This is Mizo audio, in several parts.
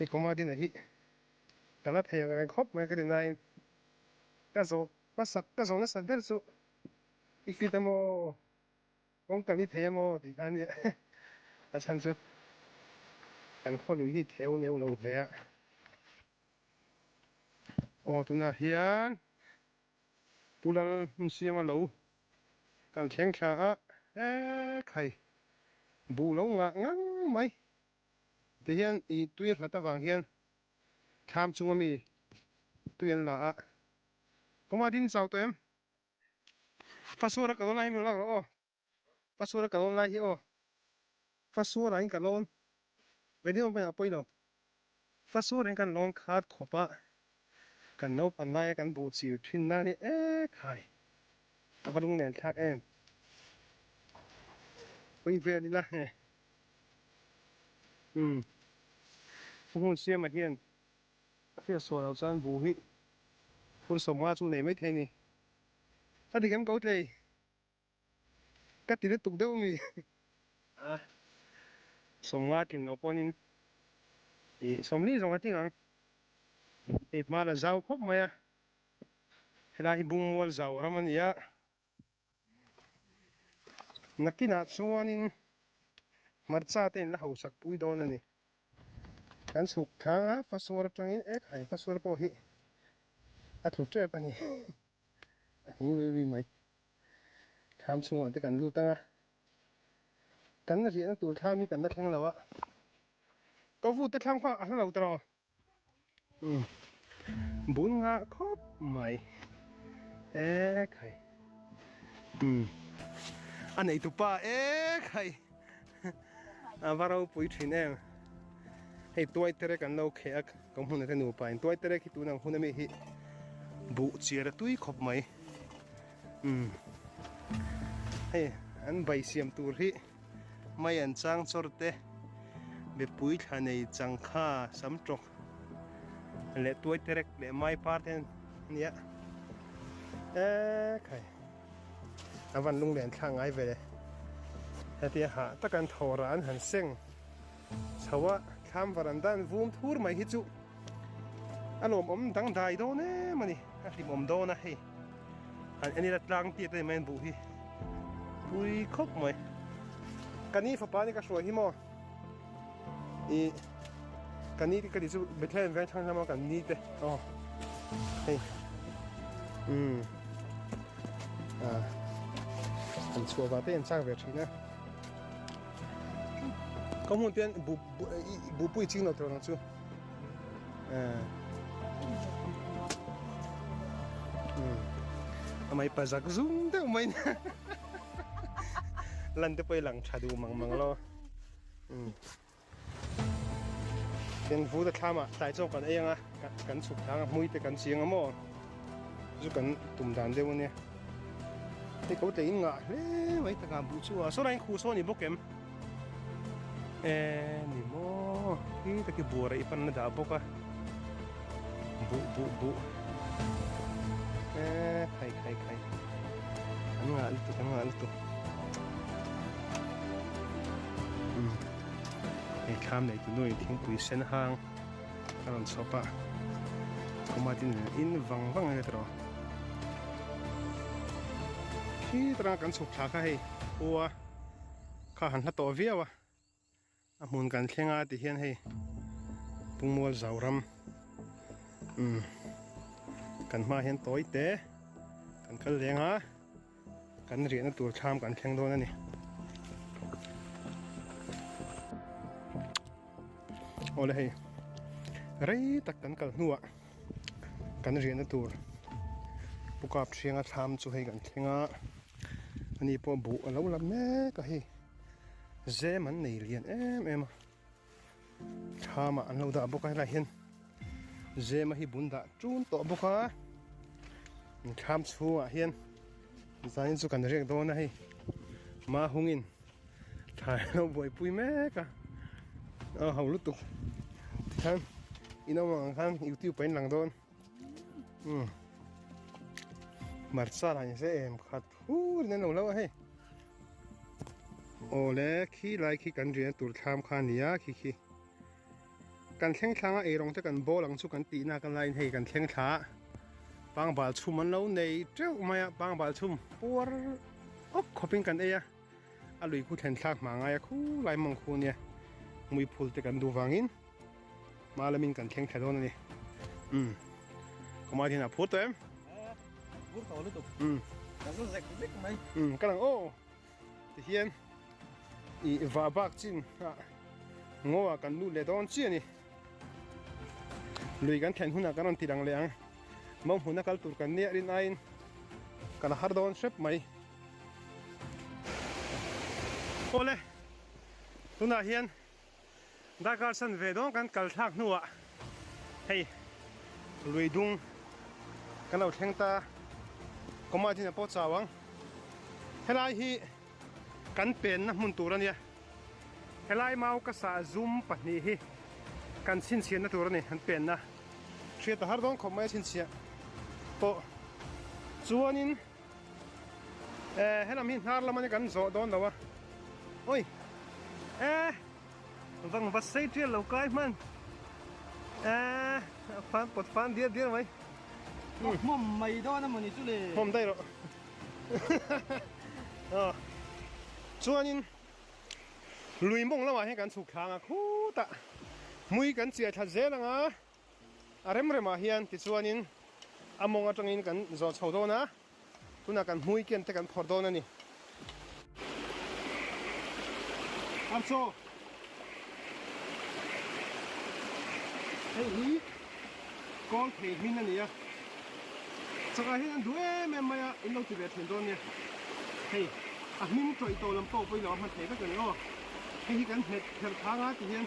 I kawma dina hi ka la thei reng reng khawp mai ka ti nain ka zawh hmasak ka zawh nasat ber chu i fit emaw kawng ka ni thei emaw tih kha ania a chhan chu kan khaw lui hi theu neu lo hle a. Aw tunah hian pu lal hmun siam a lo kan thleng thla a he khai bu lo ngah ngang mai. Tihian i tui nghat avang hian thlam chunga mi tui an la a. Kawma din chau tawh em? Fa suara ka lawn lai hi min ruak loh aw. Fa suara ka lawn lai hi aw. Fa suara in ka lawn. Vei deuh ang pawhin a pawi lo. Fa Sawrin kan lawm khat khawpa kan naupan laia kan buh chil thinna ni ekhai a va lungnel thlak em. Pawi vel ila he umm ka hun siama hian a fiah sual lo chuan bu hi hun sawmnga chu nei maithei ni. Ka dihlem ko tlei. Ka ti lutuk deuh mi. A sawmnga tin lo pawnin i sawmli zawng a ting ang. Hei hma la zau khawp mai a. Helai hi bungmual zau ram a ni a. Nakinah chuanin hmarcha te in la hausak pui dawn a ni. Kan suk thanga fasual atangin e khai fasual pawh hi a tlu tep a ni. a hing rui rui mai thlam chhungah te kan lut anga kan la riahna tur thlam hi kan la thleng lo a ka vu te thlam kha a hla lo ta lo bul nga khawp mai e khai a nei tupa e khai a va ro pui thin em hei tuai tere kan lo khe a ka hmun ate nu pa in tuai tere khi tunang hun ami hi bu chia ra tui khop mai um hei an bai siam tur hi mai an chang chor te be pui thla nei chang kha sam trok le tuai tere le mai par ten nia e khai Avan lung leh an thlak ngai ve le. Hetia hah tak an tho rah an han seng chho a, thlam varanda an vum thur mai hi chu a lawm awm dang dai dawn em a ni, a hlimawm dawn a hei han en ila tlang tiat mai a buh hi pui khawp mai. Ka ni fapa ni ka hruai hi maw? i kan ni ka ti chu bethlehem veng thang hlama kan ni te aw hei um à an chua ba te an chak ve thina ka mun ten bu bu pui ching lo tro nang chu à um amai pa zak zum deuh mai na lan te pawh i lang tha duh mang mang lo um ten vu ta thlama tlai chawk kan ei anga kan chhuk thang hmui te kan chiang amo chu kan tum dan deuh ania te ko tlein ngah hle mai taka bu chu a saw lain khu saw ni bawk em e ni maw hi ta ki bura i pan na dah bawk a bu bu bu e khai khai khai an ngah lutuk an ngah lutuk um hei thlam nei tu nuaih thingpui sen hang a rawn chhawp a khuma tin in vang vang nge tawh khi tarang kan chhuk thla kha hei khua kha han hla tawh viau a a hmun kan thleng a ti hian hei pungmual zau ram um kan hma hian tawi te kan kal leng a kan riahna tur thlam kan thleng dawn a ni awle hei rei tak kan kal hnuah Kan riahna tur Pu Kapthianga thlam chu hei kan thleng a, ani pawh buh a lo la mek a hei, zem an nei lian em em a, thlam ah an lo dah bawk a, helaiah hian zema hi bun dah chun tawh bawk a, thlam chhungah hian zanin chu kan rek dawn a hei, mahungin. Thai lo buai pui mek a. A ho lutuk. Khan ino mang khan YouTube pain lang don. Um. Marsa la se em khat hu ne lo lo he. Ole khi lai khi kan ri an tur tham khan nia khi khi. Kan thleng thlang a eirang te kan bâwl ang chu kan tihna a kan laiin hei kan thleng thla a pangbâl chhum an lo nei ṭeuh mai a, pangbâl chhum puar awk khawpin kan ei a, a lui khu thlen thlak hmângai a khu lai mawng khu nia muiphûl te kan duh vangin hma lamin kan thleng thla dâwn a ni. Umm khawmai hian a phûr tawh em? Êê a phûr tawh lutuk umm ka zâwk zek zek mai umm ka lang aw Ti hian i va bak chin a ngaw a kan lut leh dawn chiah a ni. Lui kan thlen hunah kan rawn tih ang leh ang. Mau hmuna kal tur kan nia rin aiin kan har dawn hrep mai. Awle tunah hian. Darkar san ve dawn kan kal thlak hnuah hei lui dung kan lo thleng ta, command in a pawh chau ang. Helai hi kan penna hmun tur a nia. Helai mau ka sa zum pahnih hi kan chhinchhiatna tur a ni, an penna. Hriat ta har dawn khawp mai a chhinchhiah pawh chuanin. Eh, helam hi hnar lamani kan zawh dawn lo a. Oi. Eh. Vang va sei tial lo kai man. Eh, fan pot fan dia dia mai. Hmm. Mom mai dawn a mani chu le. Mom dai lo. Ah. Chuanin lui mong lawa he kan chhuk thlanga khuta mui kan chia tha zel anga A rem rem ah hian tichuan in a mawng atang in kan zawh chho dawn a, tunah kan hmui kian te kan phawrh dawn a ni. An chaw. Hei hi kawl phei hming a ni a, changah hian an duh em em mai a, in lo ti ve thin dawn nia. Hei a hming tawih tawh lam pawh pawh in lo a hman thei vek a ni aw. Hei hi kan hmet pherh thang a ti hian.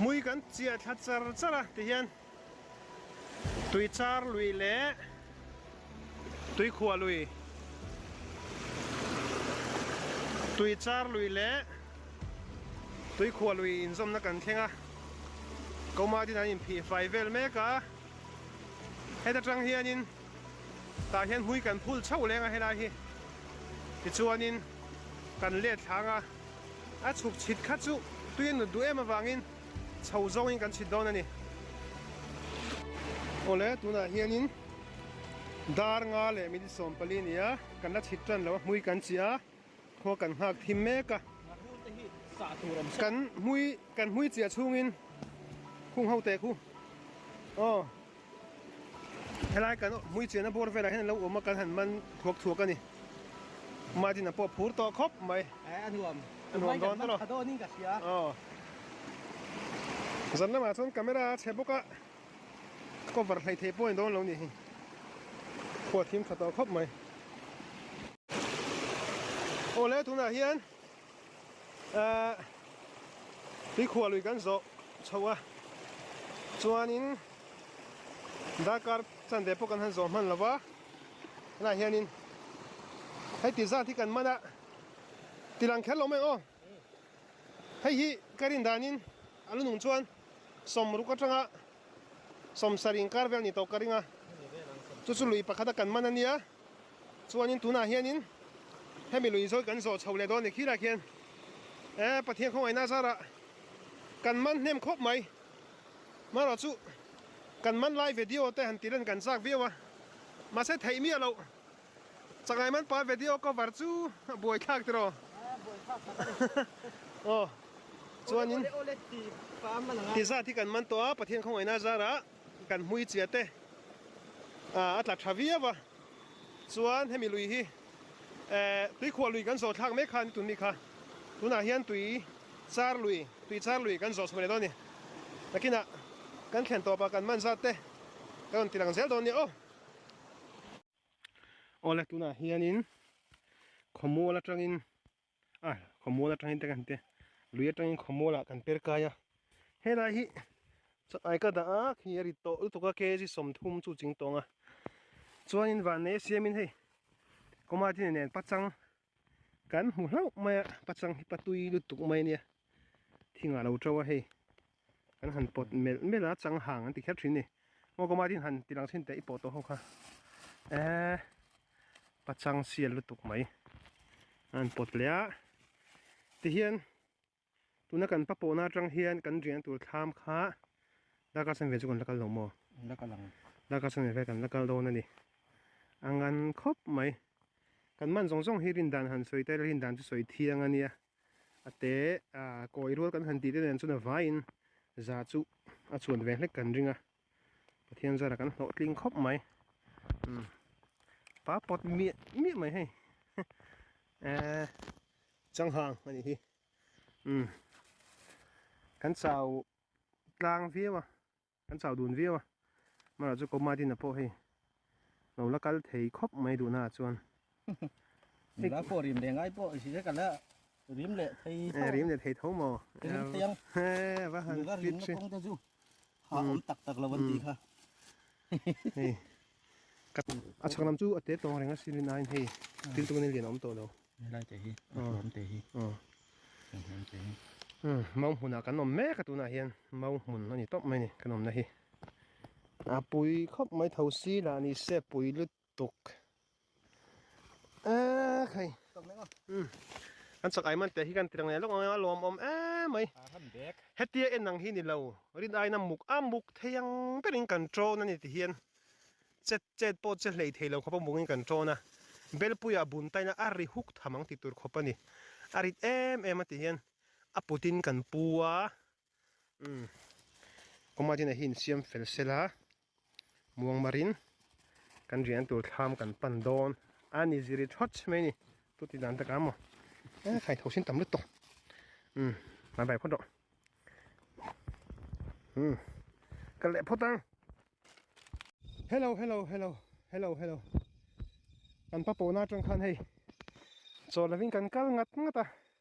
Mui kan chiah thla char char a ti hian tui char lui leh tui khuah lui tui char lui leh tui khuah lui in zawmna kan thleng a Kauma din an in phih fai vel mek a heta tang hian in tah hian hnui kan phul chauh leng a helai hi tichuanin kan let thlâng a, a chhuk chhit kha chu tuiin nut duh em avangin chho zawngin kan chhit dawn a ni. Awle tunah hianin dar nga leh minute sawmpali nia kan la chhit tan lo a, hnui kan chih a. Khua kan nghak thim mek a. Kan hmui kan hmui chiah chungin khung ho teh khu aw helai kan hmui chiahna bawr velah hian alo awm a kan han man thuak thuak a ni Martin a pawh phur tawh khawp mai eh a nuam a nuam dawn tawh lo aw zan lamah chuan camera a che bawk a. Ka var hlei thei pawhin dawn lo nih hi. Khua thim tha tawh khawp mai. Aw le tunah hian ah tui khua lui kan zawh chho a chuanin darkar chan ve pawh kan han zawh hman lo va tunah hianin hei ti zat hi kan man a tilang kher lo mai aw. Hei hi ka rin danin a lu nung chuan sawm ruk atanga sawm sar inkar vel ni tawh ka ring a, chu chu lui pakhata kan man ania, chuanin tunah hianin hemi lui zawi kan zawh chho leh dawn ni khilah khian e Pathian khawngaihna zara kan man hnem khawp mai, marawh chu kan man lai video te han tirh a ni kan chak viau a, mahse theih miah loh. Changai man pa vedio cover chu buai thlak tih rawh. Aa buai thlak tak a ni. Aw chuanin Olek olek ti pa an man ang a. Ti zat hi kan man tawh a, Pathian khawngaihna zara kan hmui chiah te a tla tha viau a. Chuan hemi lui hi eh tui khuah lui kan zawh thlak mek kha ni tun mi kha. Tunah hian tui char lui, tui char lui kan zawh chho leh dawn a ni. Nakinah kan thlen tawpah kan man zat te kan rawn ti lang zel dawn a ni. Aw. Awle tunah hianin khawmual atangin a khawmual atangin te kan ti a lui atangin khawmualah kan per kai a helai hi chatai ka dah a khi a rit tawh lutuk a kg sawmthum chu ching tawng a chuanin vannei a siamin hei kawma tine nen pachang kan hmu hlauh mai a pachang hi patui lutuk mai a nia thing ah lo to a hei. Kan han pawt melh melh a chang hang an ti kher thin ni. Maw ka matin han ti lang thin teh i pawh tawh ho kha. Eh ka chang sial lutuk mai. An pawt leh a. Ti hian tuna kan pa pawh na atang hian kan rian na tur thlam kha darkar san ve chu kan la kal lo maw. La kal ang. Darkar san ve hian kan la kal dawn a ni. Angan khawp mai. Kan man zawng zawng hi rindan han sawi tel a rindan chu sawi thiang a nia. a te a kawi rual kan han tih te nen chuna vaiin za chu a chhuan ve hlek kan ring a pathian zara kan hlawh tling khawp mai um pa pawt miah miah mai hei eh changhang a nih hi um kan chau tlang viau a Kan chau dun viau a, marah chu Kawm Martin-a pawh hei lo la kal thei khawp mai duhnaah chuan Nula pawh rim ve ngai pawh si ka la rim leh thei tho. Rim leh thei tho maw? Rim thei ang. Nula rimna kawngte chu ha awm tak tak lo an ti kha. A chhak lam chu a te tawng reng a sin in ain hei thil tum in lian a awm tawh lo. He lai te hi, a hruam te hi, a hruam te hi. Mau hmun ah kan awm mek a tun ah hian mau hmun a ni tawp mai a ni kan awm na hi. A pui khawp mai tho si la a ni se pui lutuk. a khai an chak ai man te hi kan tirang leh lawk ang a lawm awm em mai hetia en ang hi ni lo rin aina muk a muk thei ang ber in kan tawna ni ti hian chet chet pawh che hlei thei lo khawp a muk in kan tawna belpuia bun taina a ri huk tham ang ti tur khawp a ni a rit em em a ti hian a putin kan pu a umm kawngaih tinah hi insiam fel se la muang mar in kan rian tur thlam kan pan dawn a ni zir i thawt mai a ni chu ti dan takah amaw eee khai tho sin tam lutuk umm hmai bai phawt rawh umm ka leh phawt ang hello hello hello hello hello kan pa pawna atang khan hei chaw lovin kan kal ngat ngat a.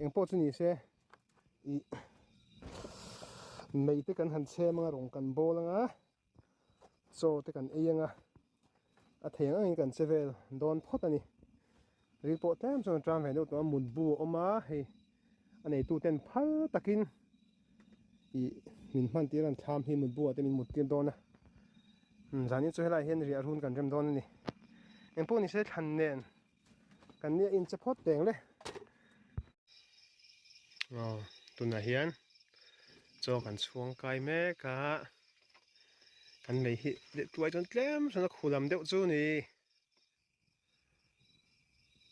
eng pawh chu nise ih meite kan han chhem anga rawn kan bawl anga chaw te kan ei anga a theng angin kan che vel dawn phawt a ni ri pawh tlem chuan a tang ve deuh tawh a mut bu a awm a hei a neitu ten phal takin ih min hman tir an thlam hi mut bu ah te min muttir dawn a zanin chu helai ah hian riah run kan rem dawn a ni eng pawh nise thlan nen. kan ni a in che phawt teng le aw tunah hian chaw kan chhuang kai mek a kan mei hi lehtuai chuan tlem hrana khu lam deuh chu ni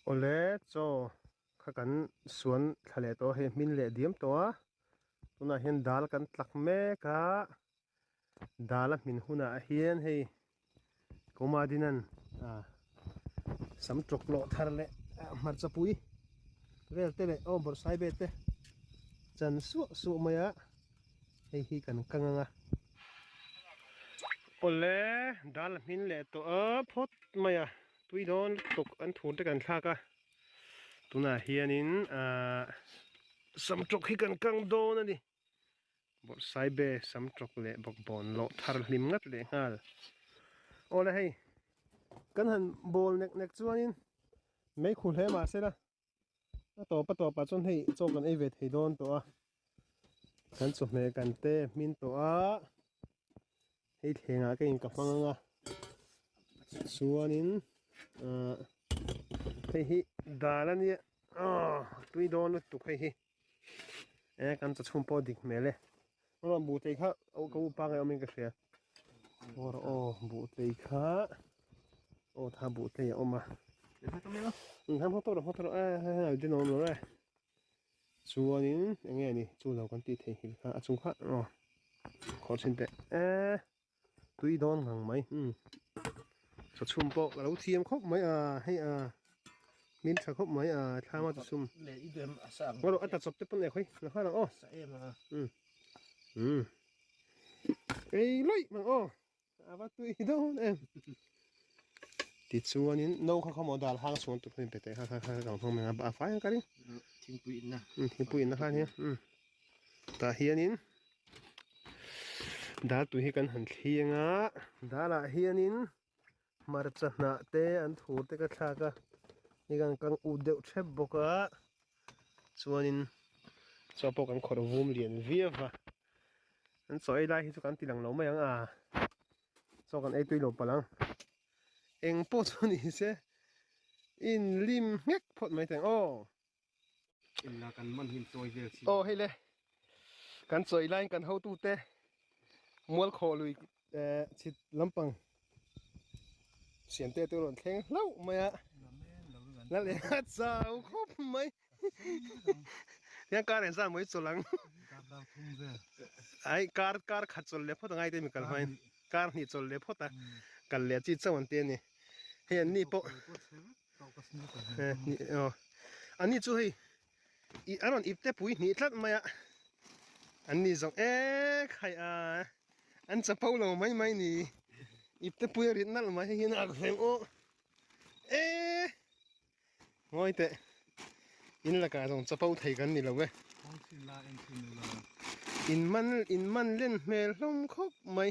awle chaw kha kan suan thla leh tawh a hei hmin leh diam tawh a tunah hian dal kan tlak mek a. dala hmin hunah hian hei Komadinan ah sam tlawk tlawh thar leh hmarchapui vel te leh aw bawrhsai vel te chan suah suah mai a hei hi kan kang ang a awle dala hmin leh tawh a phawt mai a tui dawn lutuk tuk an thur te kan thlak a tunah hianin ah sam tlawk hi kan kang dawn a ni. Bawrhsaibe sam tawk leh bawkbawn loh thar hlim ngat leh nghal. Aw la hei, kan han bawl nek nek chuanin meikhu hle mahse la, a tawp a tawpah chuan hei chaw kan ei ve thei dawn tawh a. Kan chawhmeh kan te hmin tawh a, hei thlengah ka in ka hmang anga chuanin ahh hei hi dal a nia, aww tui dawn lutuk hei hi. e kan ta chhum pawh dik hmel e ro buhtlei kha au ka upa ngai awmin ka hria or o buhtlei kha o tha buhtlei a awm a han hawk tawh lo hawk tawh lo a hal din awm lo re chuanin enge ni chu lo kan tih theih hil kha a chung kha ro khawhchin teh e tui dawn nghang mai umm tha chhum pawh ka lo thiam khawp mai a hei a hming tha khawp mai a thlama chi chhum erawh a ta chawp te pawh nek hawi nasa lo aw umm umm ei loih mang aw ava tui dawn em tichuanin no kha kha maw dal hang chuang tur pawhin pe teh kha kha ka rawn hmang mai a a fai ang ka ring thingpui inna thingpui inna khan hi umm Tah hianin dar tui hi kan han thleng a darah hianin hmarcha hnah te an thu te ka thlak a ni ang kan ût deuh ṭhep bawk a chuanin chhuah pawh kan kawr vum lian viau a an chaw ei lai hi chu kan tih dang lo mai ang a chaw kan ei tui lo palh ang eng pawh chu nise inlim nghek phawt mai teng aw. Illa kan man hin choi vel si. Oh hei le. Kan choi line kan ho tu te. Mual kho lui eh chit lampang. Sian te te ron thleng hlau mai a. La le ha chau khop mai. Yang kar en zan moi cholang. Ai kar kar khat chol le phot ngai te mi kal main. Kar ni chol le phot a. Kal le chi chau an te ni. Hei an ni po. Ani chu hei ih an rawn ip te pui hnih tlat mai a an ni zawng ek hai a an chapo lo mai mai ni ip te pui a rit nalh mai hei hian a ak ve maw e ngawi teh in lakah zawng chapo thei kan ni lo e in man in man len hmel hlawm khawp mai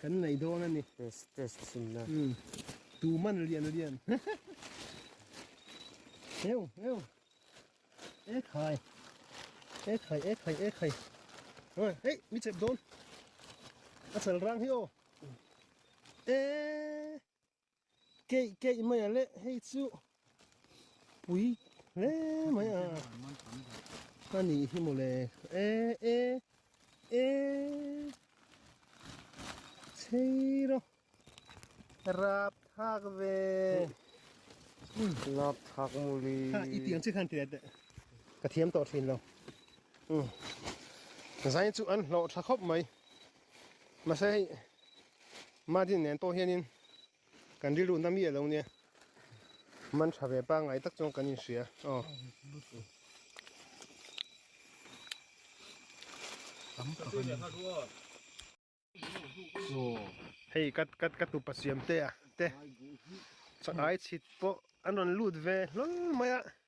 Kan nei dawn a ni. Stress chhun na. Um. Tuman lian lian. Heu heu. E khai. E khai e khai e khai. Oi, hei, mi chep dawn. A chal rang hi o. E. keih keih mai a leh hei chu pui hle mai a a nih hi maw le e e e chei ro rap thak ve rap thak muli ha i tiang chi khan tia ka thiam tawh thin lo zain chu an hlawh tha khawp mai Mahse hei Martin nen pawh hianin kan rilru na mi alo nia man tha ve pangai tak chuan kan inhria aw hei kat kat kat tu pasiam te a te chak ai chhit pawh an rawn lut ve hlawlh mai a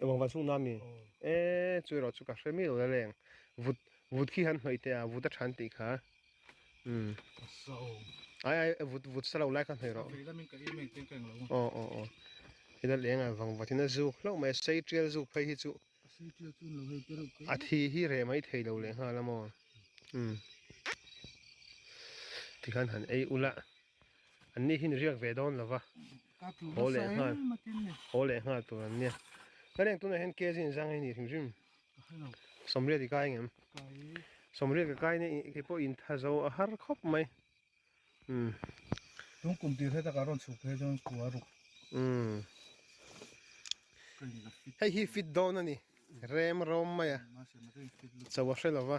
Engvang van chhungnaa mi? Eee chu erawh chu ka hre miau la leng. Vut vut khi han hnawih teh a, vut a chhan tih kha. Umm. Ka sa aw. Ai ai e vut vut sa lo lai ka hnawih erawh. Ka vei lam in ka i mek teng ka eng lo a. Aw aw aw. I la leng a vang vat in a zuk hlauh mai a, sei tial zuk phei hi chu. A sei tial chu nlo hei te reuh te. A thi hi reh mai thei lo leh nghal a maw? Umm. Tikhan han ei ul a. An ni hi ni riak ve dawn lova. Haw leh nghal, haw leh nghal tur an nia. Ka reng tunah hian KZ in zang hi ni hrim hrim. Sawmriat i kai ngem. Sawmriat ka kai nei, kei pawh in tha zo a har khawp mai. Um. Tun kum tir he takah rawn chhuk phei chuan kua ruk. Um. Hei hi fit dawn a ni. Rem rawm mai a. Chauha hre lova.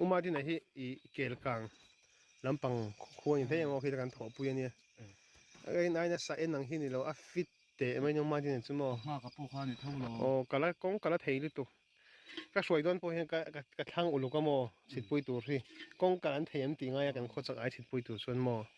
Uma din ahi i kel kang lampang khuwa ni thei ango khi kan thaw pui ania. Ai nai na sa en ang hi ni lo a fit te mai ni uma din chu mo. Ma ka pu kha ni tho lo. O kala kong kala thei lu tu. Ka hruai don po hian ka ka thlang uluk amo chhit pui tur hi. Kong kalan thei em ti ngai a kan khaw chak ai chhit pui tur chuan mo.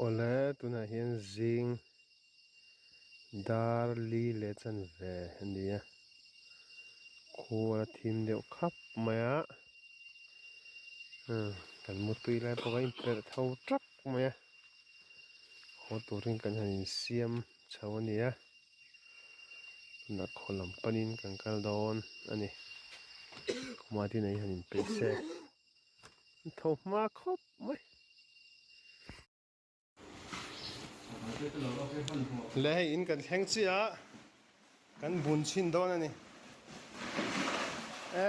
Awle, tunah hian zing, dar, li leh chanve a ni a. Khuar a thim deuh khap mai a. Umm, kan mu tui lai bawk a, a inperh tho ṭak mai a. Haw turin kan han insiam chho a ni a. Tunah khaw lam panin kan kal dawn a ni. Khawmati neih hi han inpeih se. An tho hma khawp mai. Le hei in kan thleng chiah a, kan bun chhin dawn a ni. E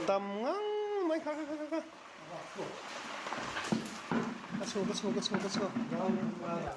tam ngang mai kha kha kha kha. Ka chho ka chho ka chho ka chho.